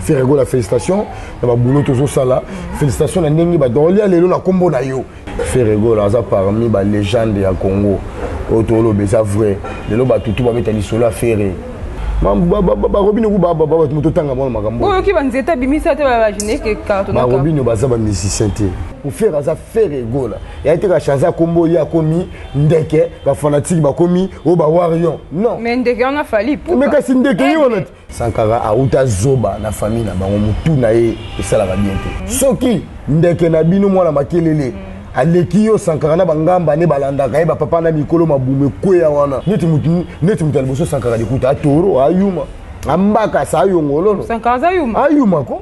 Ferre Gola félicitations na ba boulot tozo sala félicitations na ndenge ba dolia lelo na kombo na yo Ferre Gola aza parmi ba légende ya Congo oyo toloba eza vrai lelo ba tutu ba beta lisolo ya Ferre barobino ku bato moto otanga mwana makambo oyoki banzete abimisa te barobino baza bamusicien te ofere aza fere egola yaye te kashanze akombo ye akomi ndeke bafanatike bakomi oyo bawarion non mais ndeke wana fali mais kasi ndeke ye wana te Sankara awuta zoba na famille na bango mutu na ye esalaka bien te. Hmm. Soki ndeke na bino mwana makelele hmm. aleki yo sankara na bangamba nde balandaka ye bapapa na mikolo mabumu ekweya wana neti moto ya liboso sankara likuta atoro ayuma ambakasa ayongololo ayuma ko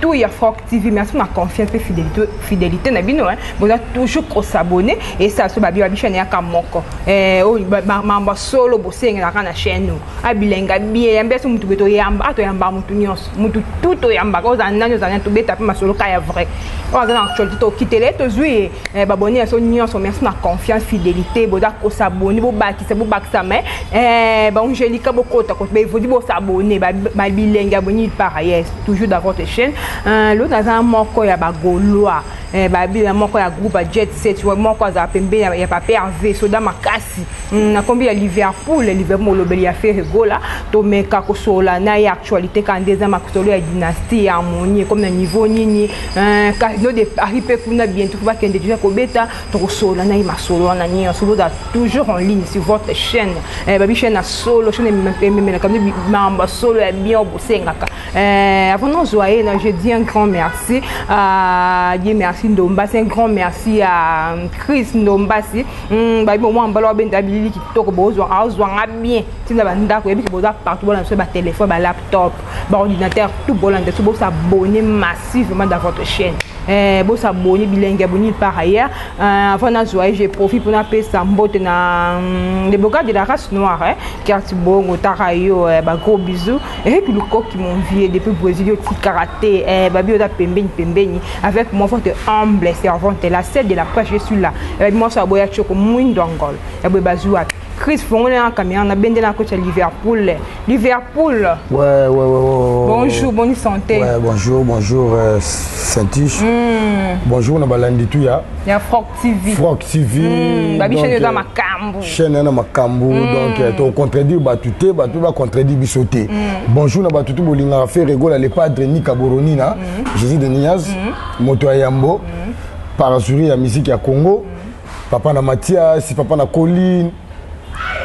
tout ya Froc TV merci ma confiance et fidélité fidélité na bino hein boza toujours ko s'abonner et ça so ba bibi chaîne ya kamoko eh o mamba solo bosenga na kana chaîne no abilenga bien ya mbeso mutu beto yamba ato yamba mutu nyonso mutu tout o yamba ko za nani za nani to beta pe masolo ka ya vrai o za na actualité to kitele to zui eh ba bonne so nyonso merci na confiance fidélité boza ko s'abonner bo bakisa bo bakisa mais eh ba Angelica bokota ko be vodi bo s'abonner ba bilenga boni par ailleurs toujours dans votre chaîne euh, l'autre aza moko ya bagolois eh, babila moko ya groupe ya jet set moko azala pembe ya, ya pape herve soda makasi mm, na kombi ya liverpool liverpool molobeli ya fere gola tomeka kosolola na ye actualité kaka nde eza makosolo ya dynastie ya harmonie ekomi na niveau nini eh, casino de paris mpe kuna bientôt bakende deja kobeta tokosolola na ye masolo wana nyonso boza toujours en ligne sur votre chaîne eh, babi chaîne ya solo chaîne ememelaka nde mambo ya solo ya bien bosengaka eh, avant nozwa ye na je dis un grand merci à ye merci ndombasi un grand merci à euh, chris ndombasi hmm, babi bomwa mbala wabenda bilili kitoko bozwa azwanga bien ntina bandako yebi ke boza partout bolanda biso batelefone balaptop baordinateur tout bolanda biso bosabonne massivement dans votre chaîne Eh, bosa boni bilenge boni par ailleurs euh, avant nazwa ye je profit mpo napesa mbote na mm, le boga de la race noire eh, carte bongo taka yo eh, bagros bisou eyebi eh, lukoki mon vieux depuis brésil otikaka te eh, babi oza pembeni pembeni avec moi votre humble servante la sel de la prêche je suis là ebabi eh, mwasi aboya tioko mwindo angol eboye eh, bazwi wapi Chris fongoli na caméra na bende na coach ya Liverpool. Liverpool. Ouais, ouais, ouais, ouais. Bonjour, bonne santé. Ouais, bonjour, bonjour euh, Saintiche. Mm. Bonjour na balandi tout ya. Ya Frog TV. Frog TV. Mm. Babi chaîne na euh, makambu. Chaîne na makambu mm. donc euh, to contredire batute, batu ba contredire bisote. Mm. Bonjour na batutu bolinga faire regola le padre ni kaboroni na mm. Jésus de Niaz, mm. moto ya Yambo, mm. parasuri ya musique ya Congo. Mm. papa na mathias papa na colline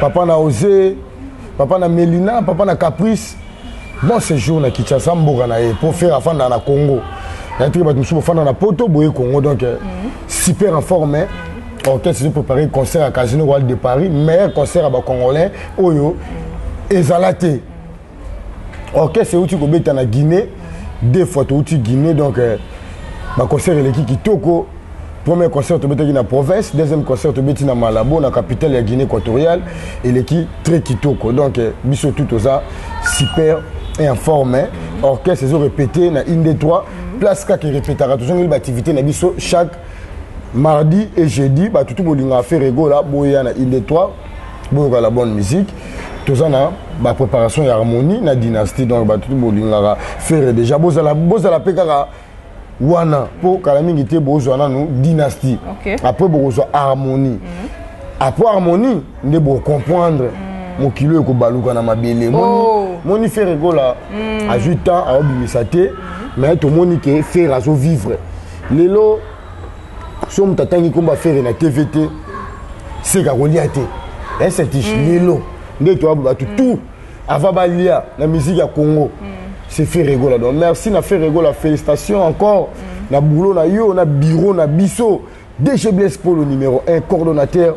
papa na ose papa na melina papa na caprice bon séjour na kinshasa mboka na ye mpo fere afandaka na congo nayetiki bato mosusu bofanda na poto boye congo donc euh, mhm. super informe orchestre ezo préparé concert ya casino royal de paris meilleur concert ya bacongolais oyo ezala te orchestre euti kobeta na guinée deux fois touti guinée donc euh, baconcert eleki kitoko premier concert tobetaki na province deuxième concert tobeti na malabo na capitale ya guinée équatoriale eleki très kitoko donc euh, biso tout toza super informe orchestre ezo répété na inde 3 place kaka erepetaka tozongeli baactivité na biso chaque mardi et jeudi batutu bolingaka ferregola boya na inde 3 boyoka la bonne musique toza na ba préparation ya harmonie na dynastie donc bato bolingaka fere déjà bozala bozala mpe kaka wana mpo kala mingi te bozwa nanu dynastie okay. après bokozwa harmonie mm -hmm. après harmonie nde bocomprendre mm -hmm. mokili ekobaluka na mabele oh. moni fere ekola mm. azwi temps aobimisa te mm. mais tomoni ke fere azovivre lelo so moto atangi nkombo ya fere na tv te seka kolia te esetige mm. lelo nde toya bato mm. tout avant balia na musique ya congo mm. c'est fere egola donc merci na fere egola félicitation encore mm. na boulot na yo na bureau na biso dg blaise polo numéro 1 coordonnateur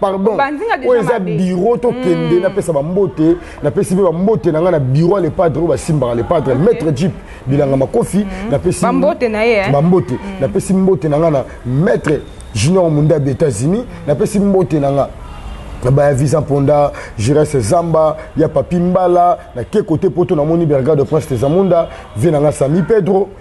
pardon oyo eza biro tokende hmm. napesa bambote napesi mpe bambote na ngai na biro ya lepadre oyo basimbaka lepadre maître jip bilanga makofi hmm. napesi bambote eh? hmm. napesi mbote na ngai na maître junior mundabi états-unis napesi mbote na ngai na baya visa mponda jirese zamba ya papi mbala na ke kote poto namoni bergade prince tezamunda vie na ngai sami pedro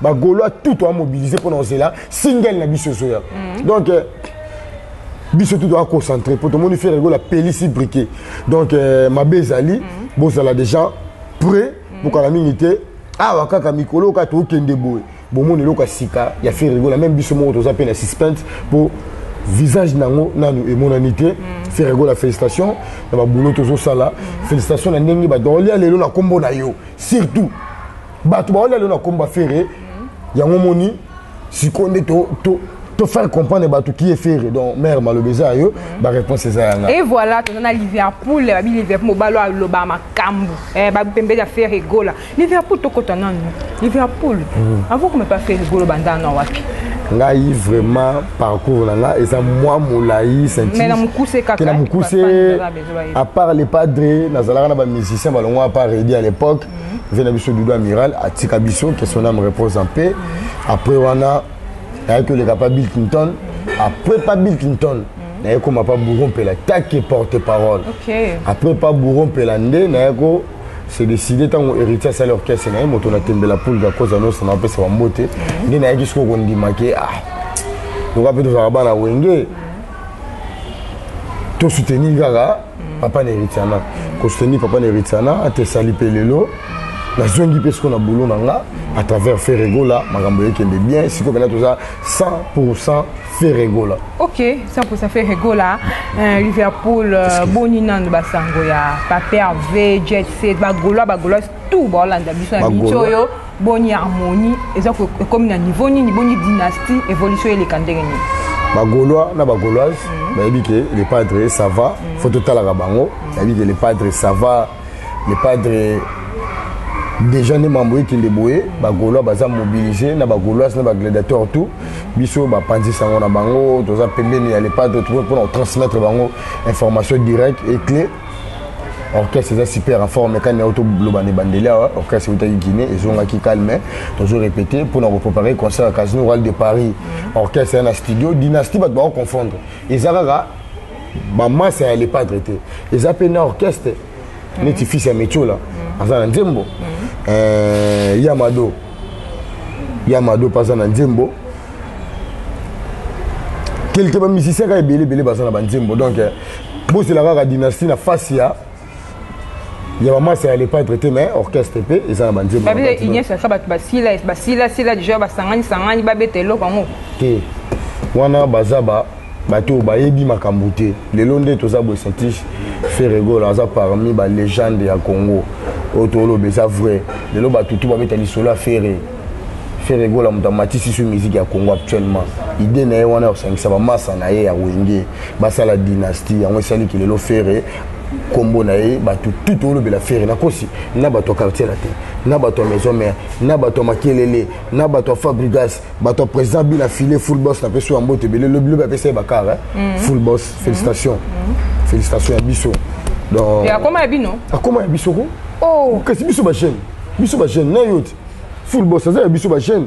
ba golois tout toa mobilise mpona kozela single na biso ezoya mm. donc euh, biso tout toa concentre mpo tomoni fere gola pelisi briquet donc euh, mabe ezali mm. bozala déjà près mm. bokala mingi te awa kaka mikolo oyo kaka tokende boye bomoni eloko ya sika ya fere gola meme biso moko toza mpe na suspense mpo visage nango nanu emonani te mm. ferrego la félicitation na baboulot tozosala mm. félicitation na ndenge badonlia lelo na nkombo na yo surtout bato baolia lelo na kombo ya fere yango moni sikoyo nde to, to, to faire comprendre bato qui est fere donc mare maloba eza ya yo baréponse eza ya ngai et voilà toza na liverpool babi liverpool mobalo aloba makambo eh, bapembeli ya fere egola liverpool tokota nanu liverpool mm. avant kome pa fere egolo banda na wapi ngai vraiment parcours na ngai eza mwa molai sentena mokuse apart le padre nazalaka na bamusicien balongwa apart redi à l'époque vie na biso dudu amiral atika biso que son âme repose en paix après wana nayaki koleka pa bill clinton après pa bill clinton naye koma pa bouro mpela take porte parole après pa bouro mpela nde naye ko se décide ntango héritier asali orchestre na ye moto natembela pulga koza nyonso na bapesa bambote nde nayaki sikoyo kondima ke ah lokola mpe tozalaka bana wenge to soutenir kaka mm. papa na eritiana mm. ko soutenir papa na eritiana atesali mpe lelo nazongi mpe sikoyo na boulot na nga à travers ferregola makambo ekende bien sikoyo mpena toza 100 pour 100 ferregola ok 100 pour 100 ferregola euh, liverpool euh, boni nano basango ya paper v jet set bagolois bagolois tout baolanda biso na biso oyo boni harmonie eza ekomi na niveau nini boni dynastie évolution eleka ndenge nini bagolois na bagoloise mhm. bayebi ke le padre sava mhm. fo totalaka bango mhm. bayebi ke le padre sava le padre déjà nde mambo ekende boye bagolois baza mobilise na bagoloise na bagladiateur tout biso bapanzi sango na bango toza pembeni ya le padre mpona kotransmettre bango information directe et clé orchestre eza super en forme kani auto loba ne bandeli awa orchestre utaki guinée ezongaki calme tozo répété mpona koprépare concert ya casino royal de paris orchestre ya na studio dynastie bato bako confondre eza kaka bamasa ya lepadre te eza mpe na orchestre neti fils ya metiola aza na nzembo eh, yamado yamado mpe aza na nzembo quelque bamusicien kaka ebele ebele baza na banzembo donc eh, bozela kaka dynastie na face ya ya bamasa ya lepatre te mais orchestre mpe eza na banzembauniesaka bato basila basila sila deja basangani sangani babeta eloko yango te wana baza ba bato oyo bayebi makambo te lelo nde toza boye satis ferregola aza parmi balegende ya congo oyo toloba eza vrai lelo bato tu babeta lisolo ya ferre ferregola moto amatisi so miziki ya congo actuellement ide na ye wana ya kosangisa bamasa na ye ya wenge basala dynastie yango esali ki lelo ferre nkombo na ye bato tout tolobela fere nakosi na bato ya quartier na te na bato ya maison mare na bato ya makelele na bato ya fabrigas bato ya président bila file full boss na peso ya mbote ebele lobi lobi apesa ye bakar eh? mm. full boss mm. félicitation mm. félicitation ya biso donc akoma ya bino akoma ya biso ko oh. kasi biso bajeune biso bajeune na yo te full boss aza ya biso bajeune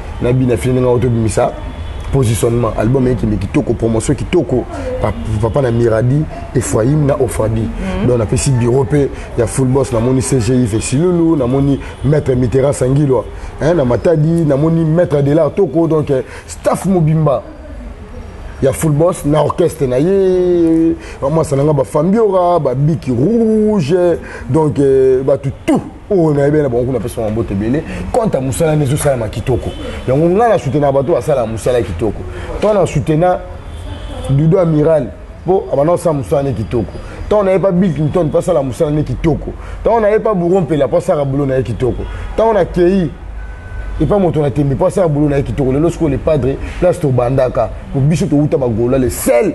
na bina fini ndenge auto bimisa positionnement album ekende kitoko promotion kitoko papa na miradi efraim na ofrabi mhm. donc napesi bureau mpe ya full boss namoni cgi vesilulu namoni maître mitera sangilwa na matadi namoni maître de l'art toko donc eh, staff mobimba ya full boss na orchestre na ye bamwasa na ngai bafambiora babiki rouge donc eh, bato tout oyo nayebi na bango kuna apesaka mbote ebele kante ya mosala nde ezosalama kitoko yango ngai na soutenaka bato basalaka mosala kitoko ntango na soutena dudo amiral mpo abanda kosala mosala nde kitoko ntango naye mpa bill clinton mpo asala mosala nde kitoko ntango naye mpa bouro mpela mpo asala bulo na ye kitoko ntango nakei epa moto na tembe mpo asala bulo na ye kitoko lelo sikoyo le padre place tobandaka mpo biso towuta bagola le sel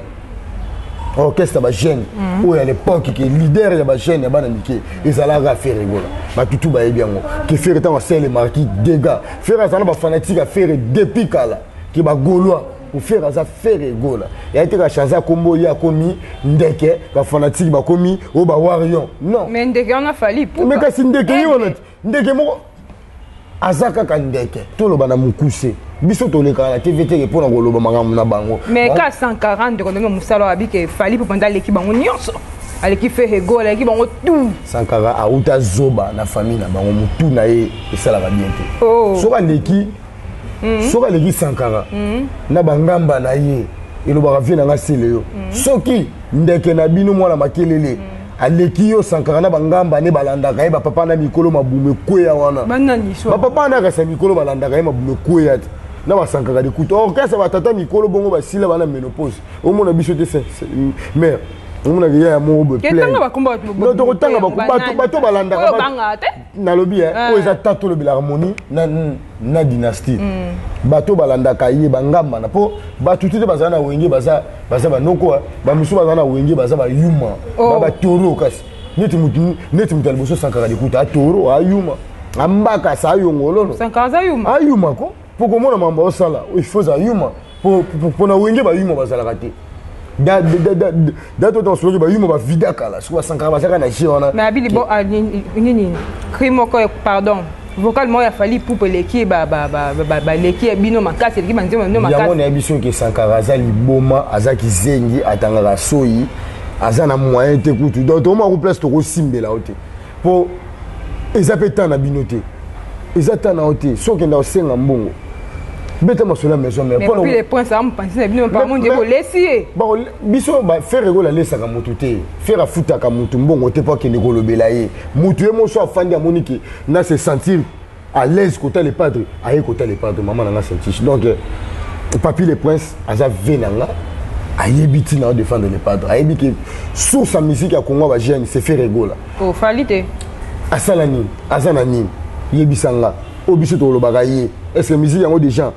orchestre ya bajeune mhm. oyo ya lepoke ke leader ya bajeune ya bana mike ezalaka fere gola batutu bayebi yango ke fere ntango asele marki dega fere aza na bafanatike ya fere depuis kala ke bagolois kofere aza fere egola yaye te kachanze akombo ye akomi ndeke bafanatike bakomi oyo bawarion non mais ndeke wana fali mais kasi ndeke ye wana te ndeke moko aza kaka ndeke toloba na mokuse biso tolekaka na tv teke mpo na koloba makambo na bango mais ka 140 ndeko ndenge mosala wabi ke fali mpo mpenza aleki bango nyonso aleki fehego aleki bango tu sankara auta zoba na famille na bango motu na ye esalaka bien te oh. soki aleki Mhm. soki aleki sankara mhm. na bangamba na ye elobaka vie na ngai sele yo mhm. soki ndeke na bino mwana makelele aleki yo sankara na bangamba ne balandaka ye bapapa na mikolo mabumu ekweya wana bapapa na akasa mikolo balandaka ye mabumu ekweya te na basankaka likuta orkestre batata mikolo bongo basila bana menopause omona biso te mare omonaka ya ya moko boye tokotanga bato balandaka nalobi eh, ah. oyo eza ta tolobela harmonie na, na dynastie mm. bato balandaka ye bangambana mpo bato te te bazala na wenge baza, baza banoko eh. bamosusu bazala na wenge baza bayuma oh. ba batoro kasi neti moto neti moto ya liboso sankara likuta atoro ayuma ambaka sa ayongololo ayuma ko mpo komona mambo osala il faut ozala yuma mpo na wenge bayuma bazalaka te date oyo tosoloki bayuma bavida kala soki basankaka bazalaka na jeu wana nabili bo ah, nini cri moko pardon vocal moko ya fali pupe eleki baleki ya bino makasi eleki banzembo na bino makasi yango nayebi soki esankaka aza liboma aza kizengi atangaka soyi aza na moyen te kutu donc tokomaku place tokosimbela yo te po eza pe temps na bino te eza temps na yo te soki okenda kosenga mbongo beta masolo ya maison mère pona le prince am pansi na bino pa mon dieu bolesi ye ba biso ba ferre ko la lesaka mutu te ferre afutaka mutu mbongo te po akende kolobela ye mutu ye moso afandi amoni ke na se sentir à l'aise kota le padre aye kota le padre mama na nga saintiche donc euh, papi le prince aza ve na nga ayebi ntina ya défendre le padre ayebi ke source ya musique ya congo ya bagene se faire egola oh, fali te asala nini aza na nini yebisa nga oyo biso tokolobaka ye est ce que musique yango déjà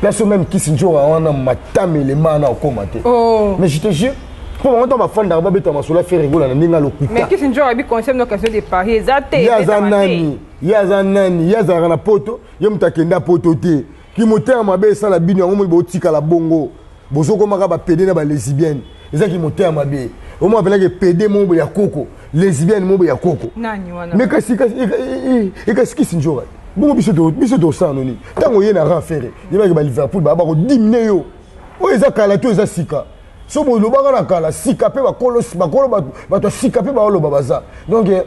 place oyo meme kisi nzora wana matamele maa na okoma te oh. mais je te jure mpo bango ntango bafandaka babeta masolo ya fere egola na ndenge alokutaekisi nzora abi conseil no question de paris eza te ye aza nani ye aza nani ye azalaka na poto ye moto akenda poto te kimotema mabe esala bino yango moi botikala bongo Bozo koma ka ba pede na ba lesibienne. Eza ki motema mabe. Omo apela ke pede mobo ya koko. Lesibienne mobo ya koko. Nani wana? Me kasi kasi e kasi kisi njora. Bongo biso to biso to sa noni. Tango ye na ran ferre. Ye ba ke ba Liverpool ba ba ko dimne yo. Oyo eza kala to eza sika. So bo loba ka na kala sika pe ba kolo ba kolo ba ba to sika pe ba olo ba baza. Donc eh,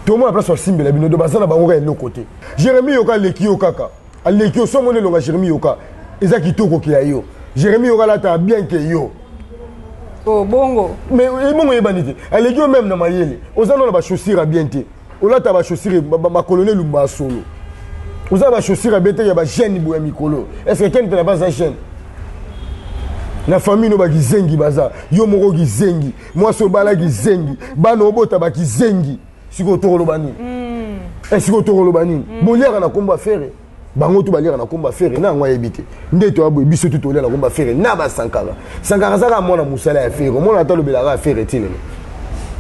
tomona place basimbela bino do baza na bango ka eloko te jeremi yoka aleki yo kaka aleki oso mona elonga jeremi yoka eza kitoko ke ya yo jeremi yoka alata bien ke yo oh, bongo mais eh, bongo eyebani te aleki yo meme na mayele oza nona bachaussure ya bien te olata bachaussure makolo na elumba ya solo oza na bachaussure ya bien te ya bagene boya mikolo estce ken mpena baza gene na famille no bakizengi baza yo moko kizengi mwasi obala kizengi bana obota bakizengi sikoyo tokoloba nini hmm. eh, sikoyo tokoloba nini hmm. boliaka na nkombo ya fere bango tu baliaka na nkombo ya fere na yango ayebi te nde toya boye biso tu tolia na nkombo ya fere na basankara sankara azaka mwana mosala ya fere omona ata alobelaka ya fere ti lelo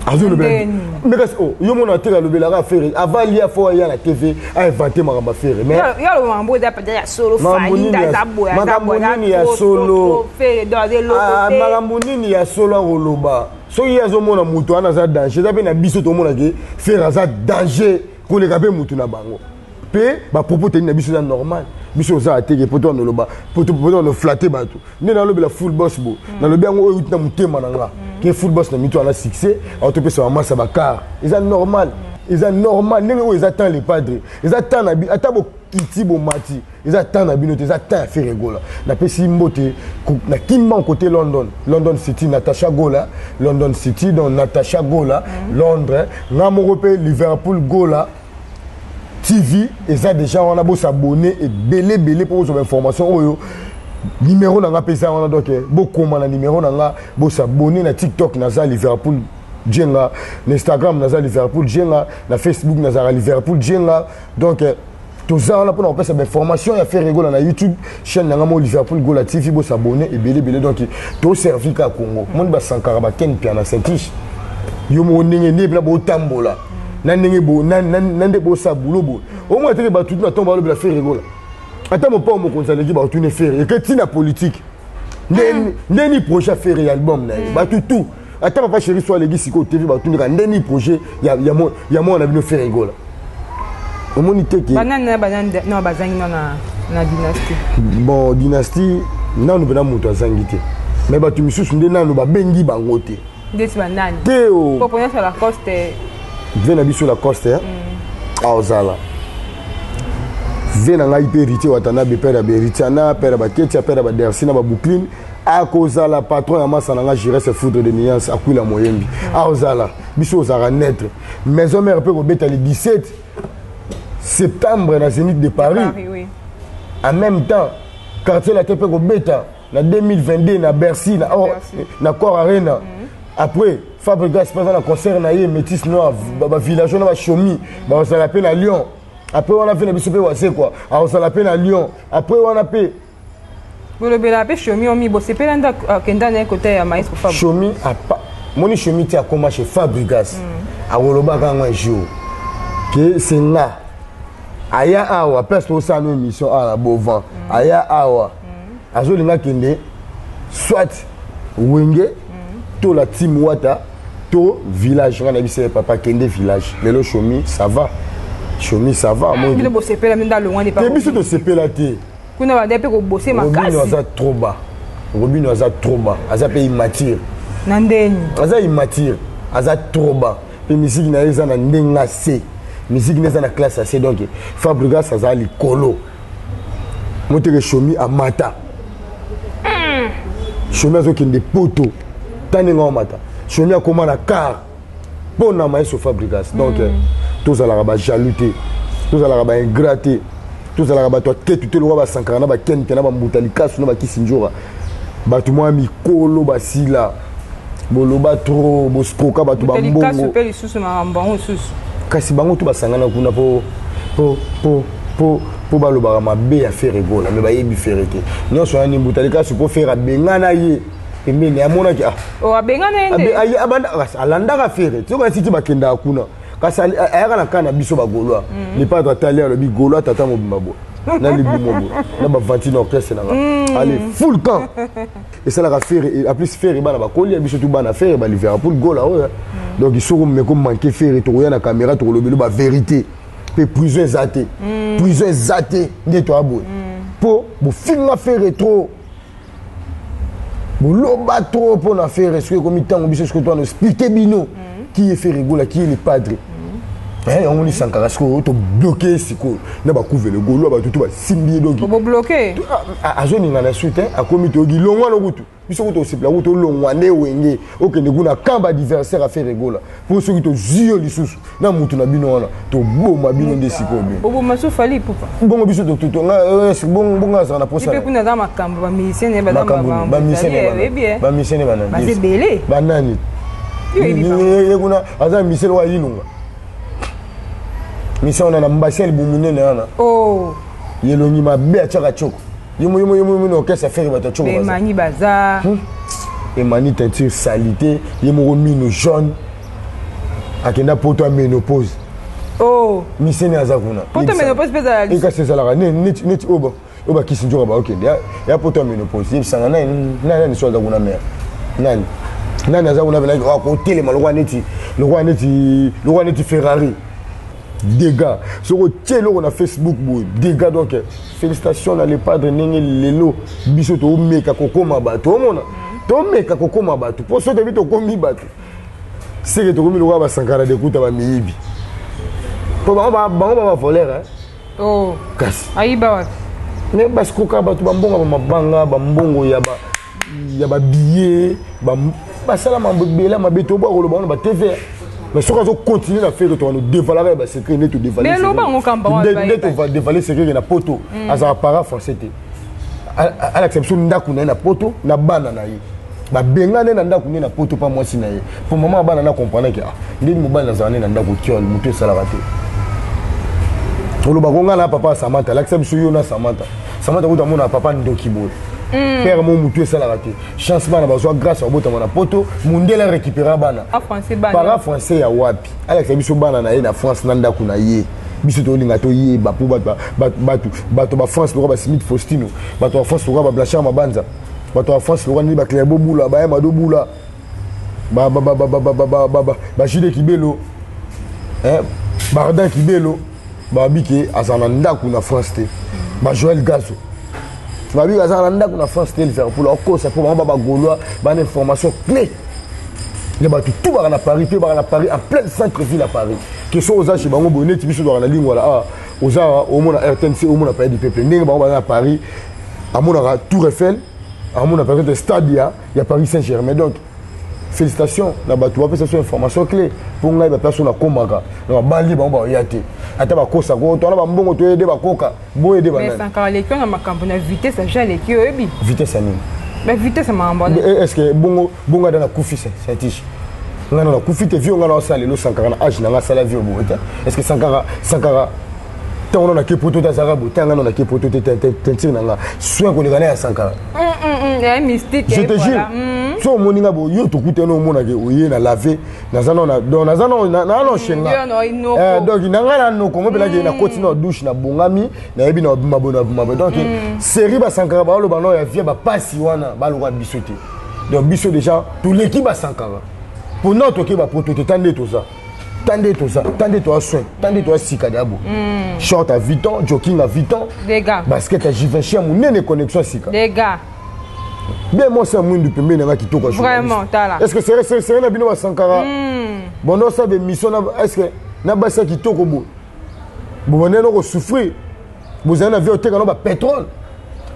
azolobela mais kasi oh, yo mona te alobelaka affaire avant lia fo aya na tv ainvente makambo affaire maismakambo nini ya solo ah, makambo nini ya solo akoloba soki ye azomona moto wana aza danger eza mpe na biso tomona ke fere aza danger koleka mpe motu na bango mpe bapropos teni na biso eza normal biso oza ateke poto wana oloba poto wana flatte bato nde nalobela full boss bo mm. nalobi yango oyo euti na motema na nga mm. ke full boss na mitu wana succès aotopesa bamasa bakar eza normal mm. eza normal ndenge oyo eza temps le padre eza temps na bi ata bokiti bomati eza temps na bino te eza temps ya fere gola napesi mbote na kimban kote london london city natacha gola london city donc natacha gola mm. londres nga moko mpe liverpool gola tv eza déjà wana bosabone ebele ebele mpo bozwa bainformation oyo nimero na nga mpe eza wana donc bokoma na nimero na nga bosabone na tiktok naza liverpool jenga na instagram naza liverpool jenga na facebook nazalaka liverpool jenga donc toza wana mpona kopesa bainformation ya ferre gola na youtube chaîne na ngai mo liverpool gola tv bosabone ebele ebele donc toservi kaka congo moni basankara baken pia na saintiche yo moko ndenge nde mpena botambola na ndenge na nde bosa bulo boye omona teke bato tu na ntango balobela ferre gola ata mopao mokonzi aleki baotune ferre eke ntina politike nde ni projet ya ferre ya album na ye bato tout ata papa chéri so aleki sikoyo tv batundaka nde nini projet ya mwana na bino fere egola omoni teke bazangi na dynastie bon dynastie nanu mpena moto azangi te me bato misusu nde nanu babengi bango te ndeti banani te o oh. poponyoso lacoste ve na biso lacoste eh? mm. aozala ah, vie na ngai mpe héritier watanabe père ya baheritiana père ya baketia père ya badersi na babuklin akozala patron ya masa na nga giresse foudre de nuance akwila moyembi aozala biso ozalaka neutre maison mère mpe kobeta le 17 septembre na zénith de paris, de paris oui. en même temps quartier latin mpe kobeta na 2022 na bercy na, oh, na corps arena mm -hmm. après fabrigas mpe aza na concert na ye métis noir bavillageois na bashomi bakozala mpe na lyon après wana mpe na biso mpe wazekwa akozala mpe na lyon après wana mpe bolobela pe shomi omi bosepela nda akenda naye kota ya maestro fab shomi apa moni shomi ti akoma chez fabrigas mm. akolobaka yango un jour ke se nga aya awa place tosala émission awa na bovan mm. aya awa mm. azolinga kende soit wenge to la team wata to village nga na biso ya papa kende village lelo shomi ça va shomi ça va ah, biso tosepela te kuna banda mpe kobose makasi robino aza trop bas robino aza trop bas aza mpe immature na ndeni aza immature aza trop bas mpe miziki na ye eza na ndenge ase miziki na eza na classe ase donc fabrigas aza likolo moteke shomi amata hmm. shomi azokende poto tani nga omata shomi akoma na car mpo na maestro fabrigas donc mm. tozalaka bajaloux te tozalaka baingra te tozalaka bato ya ketu te lokola basankara na bakenke na bambuta likasu na bakisinjora bato mwa mikolo basila boloba tro boskoka bato bambongo mpe lisusu makambo yango lisusu kasi bango to basangana kuna mpo mpo mpo mpo mpo balobaka mabe ya fere gola me bayebi fere te nyonso wana nimbuta likasu mpo fere abengana ye pembeni amonaki ah. oh, abengana yende alandaka fere soki asiti bakendaka kuna kasi ayaka na kaa na biso bagolois mm. lipato atali alobi golois tata mobimba boye na libumo boye na bavantine orchestre nanga mm. ale full camp esalaka fere en plus fere bana bakoli ya biso tu bana fere ba liverpool gola oyo mm. donc soko meko manke fere tokoya na caméra tokolobelo ba vérité mpe prison eza te prison eza te nde toya boye mpo bofinga fere trop boloba trop mpo na fere soki ekomi ntango biso soki toana explike bino mhm. ki ye fere gola ki ye le padre mhm. eh, yango ni sankara sikoyo tobloke ye sikoyo na bakuvele golo ya bato to basimbi ye donki azoninga na su te akomi toyoki longwa no kutu biso kutu osepela kutu olongwa nde wenge okende kuna camp badiversaire afere gola po soki tozwi yo lisusu na motu na bino wana toboma bino nde sikoyo binoobongo biso bongo azala na posabamusiciene banani ye kuna aza misele wa yilunga misa wana na mbasi ya libumu nene wana oh. yelongi mabe atyaka coko Yo yo yo yo orchestre ferre bato tshoko. Emani baza. Hmm? Emani teinture salite, ye moko mino jaune. Akenda poto a menopause. Oh. Miseni aza kuna. Poto menopause peza la. Eka sezalaka ne ne ne oba. Oba kisi njoka ba okende. Ya ya poto menopause. Ye sanga na na ni soza kuna mère. Nani? Nani aza kuna bela ko telema lokwa neti lokwa neti lokwa neti Ferrari. dega soki otie eloko na facebook boye dega donc félicitation na le padre ndenge lelo biso tomeka kokoma bato omona tomeka kokoma bato mpo soki toyebi tokomi bato seke tokomi lokola basankara dekuta bamiyibi mpo bango babavolere oh. kasi ayiba wapi me basikoka bato bambonga bamabanga bambongo ya ba ya ba billets ba basala mambo bela mabe to ba koloba na ba TV mais soki azo continuer na fere tokano devalaka ya basecret nde todevalnde tovadevale secret na poto mm. azala para français te alakisa biso ndako na ye na poto na bana na ye babengane na ndako nde na poto mpa mwasi na ye mpo mama ya bana na komprenake ah, ndenge mobali nazala nde na ndako kiol moto esalaka te olobaka onga na papa ya samanta alakisa biso yo na samanta samata kutu amona papa ndoki boye hmm. père mo mutu esalaka te chance bana bazwa grâce ya kobotama na poto mundele arécupéra bana para français ya wapi alakisa biso bana na ye na france na ndako na ye biso tolinga toyeba mpo bato bafrance lokola basimit faustino bato ya france lokola bablachar mabanza bato ya france lokola nini baclaire bobula baya mado bula bajude kibelo bardin kibelo babi ke azala na ndako na france te ba joel gazo babi ke azala na ndako na france te liverpool akokosa mpo bango ba bagaulois bana information cle ya bato tu baka na paris mpe baka na paris en pleine centre ville ya paris ke soki oza chez bango boye neti biso tozalaka na lingwala awa ah, oza omona rtnc omona paye du peuple ndenge bango baza na paris amonaka tour eiffel amona par exemple stade ya, ya paris saint germain donc félicitation na bato bapesa biso information clé mpo ngai baplace oyo nakomaka na babali bango baoya te ata bakosa ko twana bambongo toyede bakoka boyede basankaka aleki na makambo na vitesse aja aleki oyebi vitesse ya nini bavitesse ya makambo wana eh, est ce que bongo bongo ata nakufi satiche ngai na nakufi te vio ngai na osala lelo sankaka na age na ngai asala vio boye te est ce que sankaka sankaka ntango nano nake poto te azalaka boye ntango ngai nano nake poto te tentire na ngai soin koleka na ya sankara je te jure hmm. so omoni nga boye yo tokutani omonake oye na lave naza no donc naza no na no shenga eh, donc na ngai na noko ngo mpelaki na koti na douche na bongami nayebi na mabo na mabo donc hmm. série basankaka baoloba no ya vie bapasi wana baloka biso te donc biso déjà toleki basankaka mpo nao tokeba poto te ta nde toza tande toza tande toa soin tande toa sika dabo mm. short à 8 ans joking à 8 ans Dega. basket à jivinci ya monene connexion sika Dega. bien moi ça mwindu pembeni nanga kitoko vraiment tala est ce que sere sere sere na bino ba sankara mm. bondo sa be mission na est ce que na basa kitoko boye bobandela noko souffrir bozali na vie oteka no bapetrole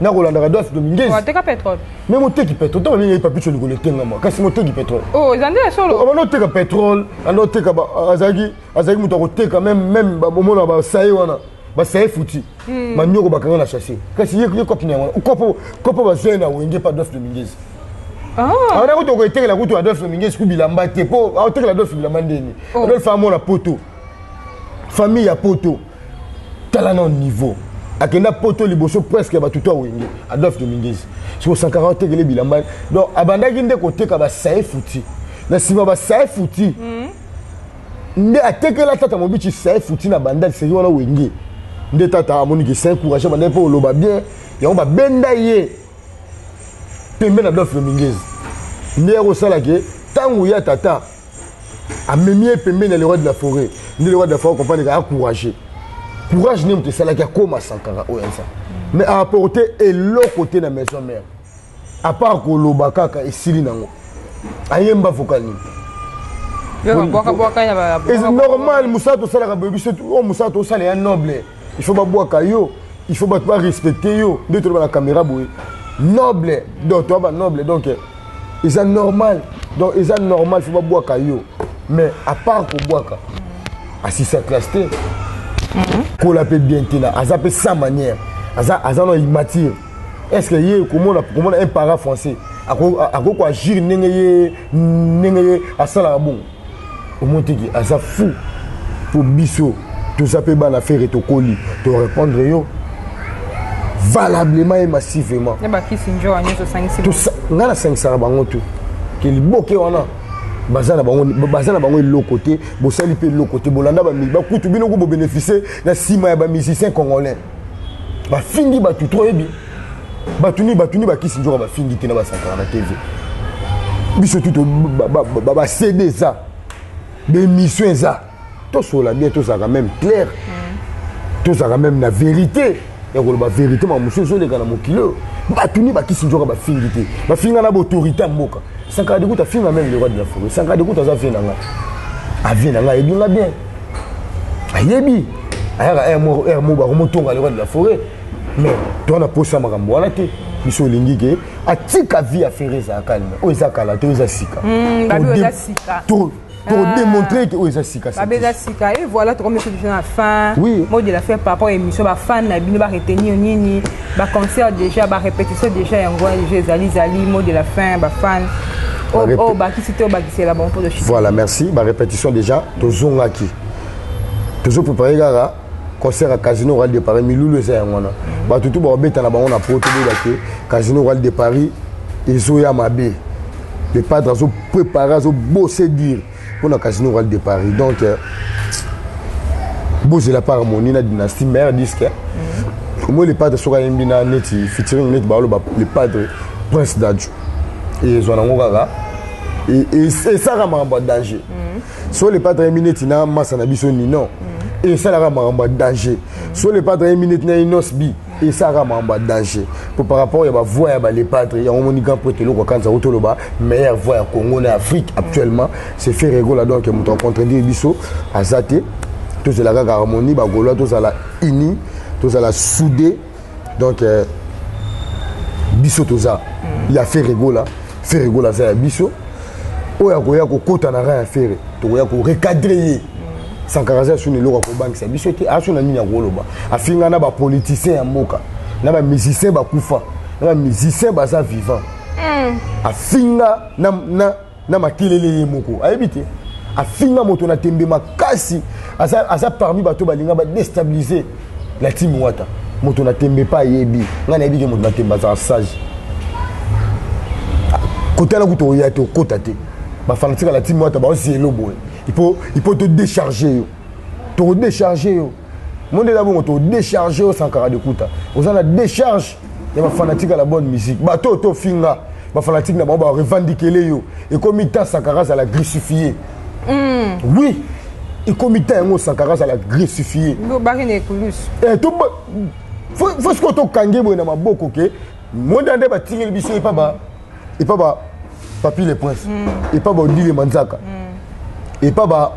nakolandaka dof de mingeziteka petrole me moteki petrole ntango nini papicho likolo etengama kasi moteki petrole oh, ezali nde solo abanda oh, oteka petrole anda oteka azalaki azalaki moto akoteka meme meme omona basaye wana basaye futi hmm. banyoko bakanga na chasse kasi ye kopi na yango kopo kopo bazali na wenge pa dof de mingezi awana ah. kutu okoetekela kutu adolphe mingezi kubilamba te mpo aotekela adolphe bilamba ndeni oh. adolphe amona poto famille ya poto tala na niveau akenda poto liboso presque bato to awenge adolphe dominguez soko sankara otekele bilamba donc abandaki nde koteka basaye futi na nsima basaye futi mhm. nde atekela tata mobici saye futi na bandal seki wana wenge nde tata amoniki saye courage bandaki mpo oloba bien yango babenda ye pembe na adolphe dominguez nde yakosala ke ntango ya tata amemi ye pembeni ya le roi de la forêt nde le roi de la forêt comprendre ke acourage courage nde moto esalaki akóma sankara oyo aza mais aapporte eloko te na maison mère apart koloba kaka esili nango ayemba vocal nini normal mosala tosalaka boyebi so oyo oh, mosala tosala ya noble il faut babwaka yo il faut bato barespecte yo nde toloba na caméra boye noble donc toya banoble donc eza normal donc eza normal faut babwaka yo mais à part kobwaka asisa classe te mhm. kola mpe bien te na aza mpe sans manière aza aza na immature est ce que ye komona komona un para français akoki koagir ndenge ye ndenge ye asalaka bongo omotiki aza fou mpo biso toza mpe bana fere tokoli torépondre yo valablement et massivement ngai nasangisaka bango tu ke liboke wana baza na bango baza na bango eloko te bosali mpe eloko te bolanda bakutu bino ko bobeneficie na nsima ya bamusicien congolais bafingi bato to oyebi bato nini bato nini bakisi nzoka bafingi te na basakana na tv biso tuto bacd eza baémission eza tosola bien tozalaka même claire mm. tozalaka même na vérité ya koloba vérité ma mosusu ezoleka na mokili oyo bato nini bakisi nzoka bafingi te bafinga na baautorité ya mboka sankara dekuta afinga meme le roi de la forêt sankara dekuta aza vie na ngai avie na ngai ayebi nga bien ayebi ayaka heure moko heure moko bakomotonga loi de la forêt mais toza na posa ya makambo wana te biso olingi ke atika vie ya ferre ezala calme oyo eza kala te oyo eza sika hmm, tokodemontre ke oyo eza sikababe eza sika e voilà tokomisi biso na fin mot de la fin par rapport ya émission bafan na bino baretenir nini baconcert déjà barépétition déjà yango wana déjà ezali ezali mot de la fin bafan oyo oh, oh, bakisi te obakisela bango mpo voilà merci barépétition déjà tozongaki tozo prépare kaka concert ya casino royal de paris milulu eza yango wana bato tu bakobeta na bango na poto boyeba ke casino royal de paris ezoya mabe le padre azo prépare azo bose dire mpo na casino royal de paris donc euh, bozela par harmonie na dynastie mare disque omoi le padre soki ayembi na neti featuring neti baoloba le padre prince dadjo ezwa nango kaka esalaka makambo ya danger mm. so le patre yemi neti na masa na biso nino mm. esalaka makambo ya danger mm. so le patre yemi neti na inos bi esalaka makambo ya danger mpo par rapport ya bavoi ya balepatre yango omoni grand prêtre eloko akanisa ko toloba meilleur voi ya congo na afrique actuellement c'est fait regola donc moto acontredire biso aza te tozela kaka harmonie bagolois tozala unis tozala soude donc euh, biso toza mm. ya ferre gola ferre gola aza ya biso oyo akoya kokota na ra ya ferre tokoya korecadre ye mm. sankara aza suni eloko akobangisa biso te aso na nini akoloba afinga na bapoliticien ya mboka na bamusicien bakufa na bamusicien baza vivant mm. afinga na, na na makelele ye moko ayebi te afinga moto na tembe makasi aza, aza parmi bato balinga badestabilize la team wata moto na tembe mpe ayebi ngai nayebi ke moto na tembe azala sage kotala kutu oya te okota te bafanatika la team wata baosi elo boye ipo todecharge yo toko décharger yo monde eza bongo toko décharger yo sankara de kuta oza na décharge ya ba fanatique ya la bonne musique bato to finga ba fanatique na bango ba revendiquer yo ekomi ta sankara za la grissifie mm. oui ekomi ta yango sankara za la grissifie lobaki na ekulus eh to faut ce que to kangi boye na maboko ke monde ande ba tingeli biso epa ba epa ba papi le prince mm. epa ba odile manzaka mm. epa ba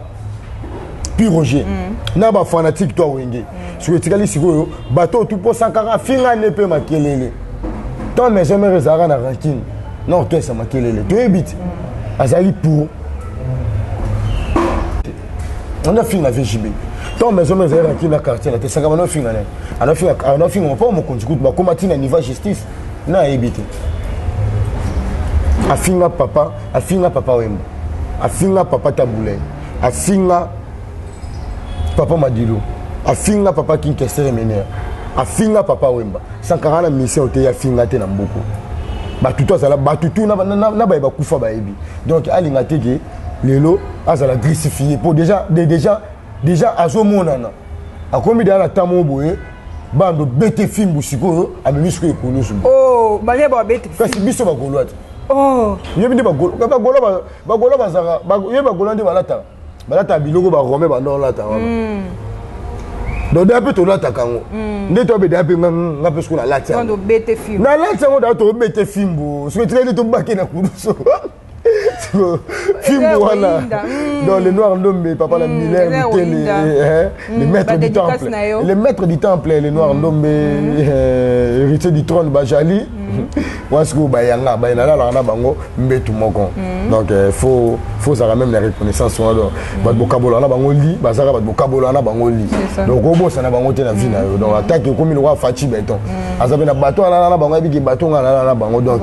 pi roger mm. na bafanatique to awenge mm. soki etikali sikoyo bato oyo tuposakaka finga nde mpe makelele to maison mare ezalaka na rankine na otoyesa makelele toyebi ti mm. azali pour anda finga vgb ntango maison mare ezalaki na quartier na te sakama na ofinga nani anafinga mpo mokonzi kutu bakóma ntina niveau ya justice na ayebi te afinga papa afinga papa wemba afinga papa tabulai afinga papa madilu afinga papa kinkesere menere afinga papa wemba sankara na mission te afinga te na mbuku batutu azala batutu na baye bakufa bayebi donc alinga te ke lelo azala grisifie mpo déjà déjà déjà azomonana akomi deya na ntango boye bando bete fimbu sikoyo amemi sikoyo ekulusu oh, balia babete kasi biso bagolwa te oh. yebi nde bagolwa bazaka yebi bagolwa nde balataka balataka biloko barome banda olata wana hmm. donc da mpe tolataka yango hmm. nde toabe da mpe nga mpe sikoyo nalati yango nalati yango da tobete fimbu soki etikali nde tobake na kulusu fimbu wana hmm. donc le noir ndombe papa na hmm, miller mitele eh, hmm, le maître du temple le maître du temple le noir ndombe eh, héritier du trône bajali wana sikoyo bayanga baye nalalaka na bango mbetu moko donc eh, faut faut ozalaka meme na reconnaissance wana donc bato bokabolaka na bango li bazalaka bato bokabolaka na bango li donc obosana bango te na vie na yo donc atake okomi lokola faci beton aza mpe na bato alala na bango ayebiki bato nga alala na bango donc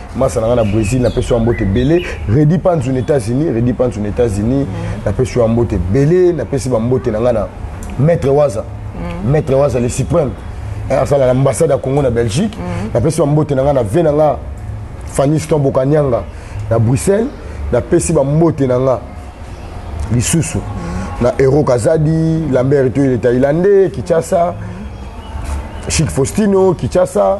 masa na ngai na brésil napesi yo mbote ebele redi panzu na états-unis redi panzu na états-unis mm. napesi yo mbote ebele napesi bambote na ngai na maître waza mm. maître waza le suprême eh, asala na ambassade ya congo na belgique mm. napesi bambote na ngai na ve na ngai faniston bokanianga na bruxelles napesi bambote na ngai lisusu na euro kazadi lambert etoile thaïlandais kinshasa chic faustino kinshasa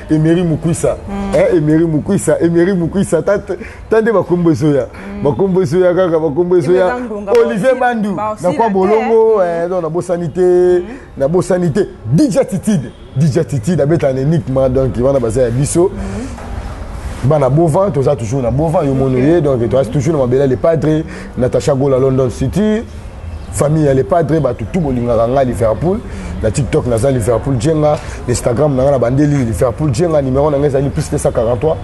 Emery Mukwisa mm. eh, Emery Mukwisa Emery Mukwisa tande bakombo ezoya mm. bakombo ezoya kaka bakombo ezoya Olivier Bandu na kwa bolongo mm. eh, donc nabosani te mm. nabosani te DJ Attitude DJ Attitude abeta na enigma donc wana baza ya biso mm. bana bovant toza toujours na bovant yo mono ye donc toza toujours na mabela le padre natacha gola london city famille ya le padre bato tu bolingaka ngai liverpool na tiktok naza liverpool jenga na instagram na ngai na bandeli liverpool jenga numero na ngai ezali plus 243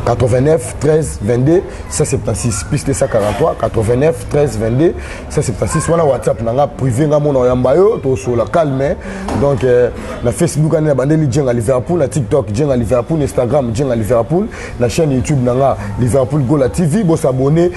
89 13 22 176 plus 243 89 13 22 176 wana whatsapp na nga privé nga mona oyamba yo tosola calme donc euh, na facebook ane na bandeli jenga liverpool na tiktok jenga liverpool na instagram jenga liverpool na chaîne youtube na nga liverpool gola tv bosabone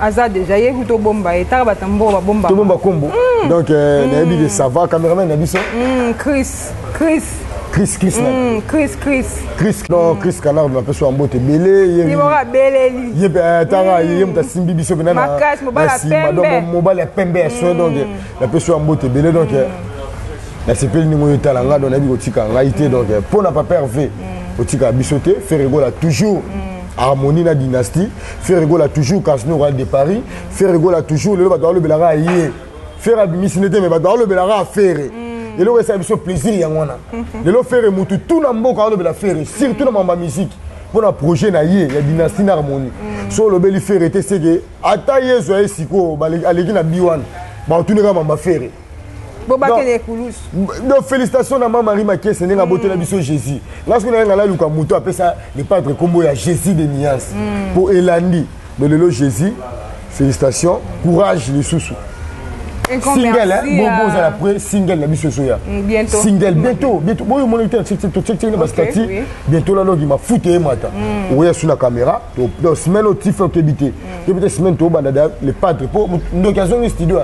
aza deja ye kutu obomba ye taka bato ya mbongo babomba tobomba kombo mm. donc euh, mm. nayebi ke sava cameraman na biso mm, chris chris chris chris mm, chris chris chris non mm. chris canard na peso ambote ebele ye mora beleli ye euh, tanga mm. ye moto asimbi biso pena na makasi mobala pembe donc mobala pembe ya soin donc euh, na peso ambote ebele donc nasepeli ndenge oyo etala ngai donc nayebi kotika ngai te donc mpo na papa herve otika biso te ferregola toujours mm. harmonie na dynastie ferre gola toujours casino royal de paris ferre gola toujours lelo bato balobelaka ye ferre abimisi nde te me bato balobelaka ferre mm. eloko esala biso plaisir yango wana lelo ferre motu tu na mboka alobela ferre surtout na mamba miziki mpo na projet na ye ya dynastie na harmonie mm. so olobeli ferre te seke ata yezu aye sikoyo aleki na bi wana baotuni kaka mamba ferre bobakende ekulusu donc félicitation na ma marie makiese ndenge abotela mm. biso jésus nga soki nayenga naluka moto apesa le padre nkombo ya jésus de niance mpo mm. elandi mais lelo jésus félicitation courage lisusu single bobo ozala pre single na biso ezoya single bientôt bientôt boyo omoni te totiektieki na bastati bientôt lalogi mafuta eyemata oya su na caméra semaine otife okebi te yo peut-être semaine to banda da le padre po ndoki azongi studio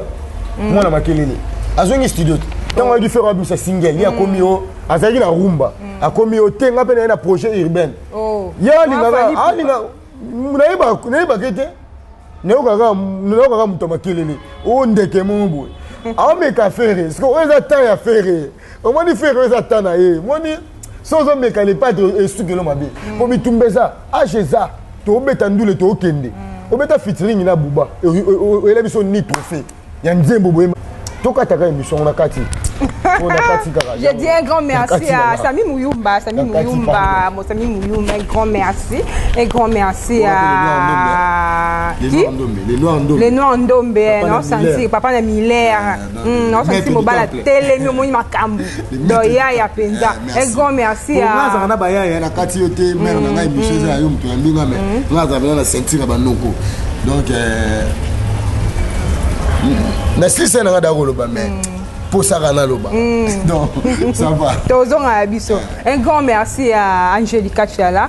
mm. mwana makelele azongi studio tango ayaki faire abisa single ye akomi mm. yo azalaki na rumba mm. akomi yo te nga mpe naye na projet urbaine oh. ye alingaka alinga nayebaka ye te nayokaka moto ya makelele o oh, ndeke moko boye aomeka fere siko oyo eza temps ya fere omoni fere oyo eza ta na ye omoni so ozomeka lepate esukelo mabe mm. po bitumba eza age eza tobeta ndule tokende mm. obeta fitiringi na buba oyela biso ni trophée ya nzembo boye tokataka emission ngo na kati Je dis un grand merci à Sami Mouyumba, Sami Mouyumba, mon Sami Mouyumba, un grand merci. Un grand merci à. Qui Les Noirs Ndombe. Les Noirs Ndombe, non, Santi, Papa Namiller. naosalisi hmm, mobala telemi omoni makambo do yaya mpenza ah, egon merci azalaka na bayaya na kati yo te mare na ngai émission eza ya yo moto ya mbinga me nga azala mpenza na ceinture ya banoko donc euh, na silisa na ngai daya koloba mai mposaka hmm. naloba hmm. donc ça va tozongaka biso un grand merci ya angelica chiala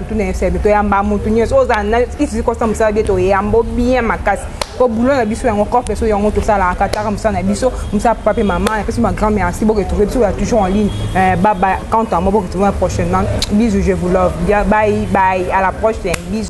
tuna esebi toyamba motu nyonso ozala na isisi kosa mosala bie toyambo bien makasi po boulot na biso yango coffre so yango tosalaka kataka mosala na biso mosala papa mpe mama na pesi ma grand merci boke trouve biso ya toujours en ligne euh, baba quant à moi boke trouve prochainement bisous je vous love bye bye à la prochaine bisous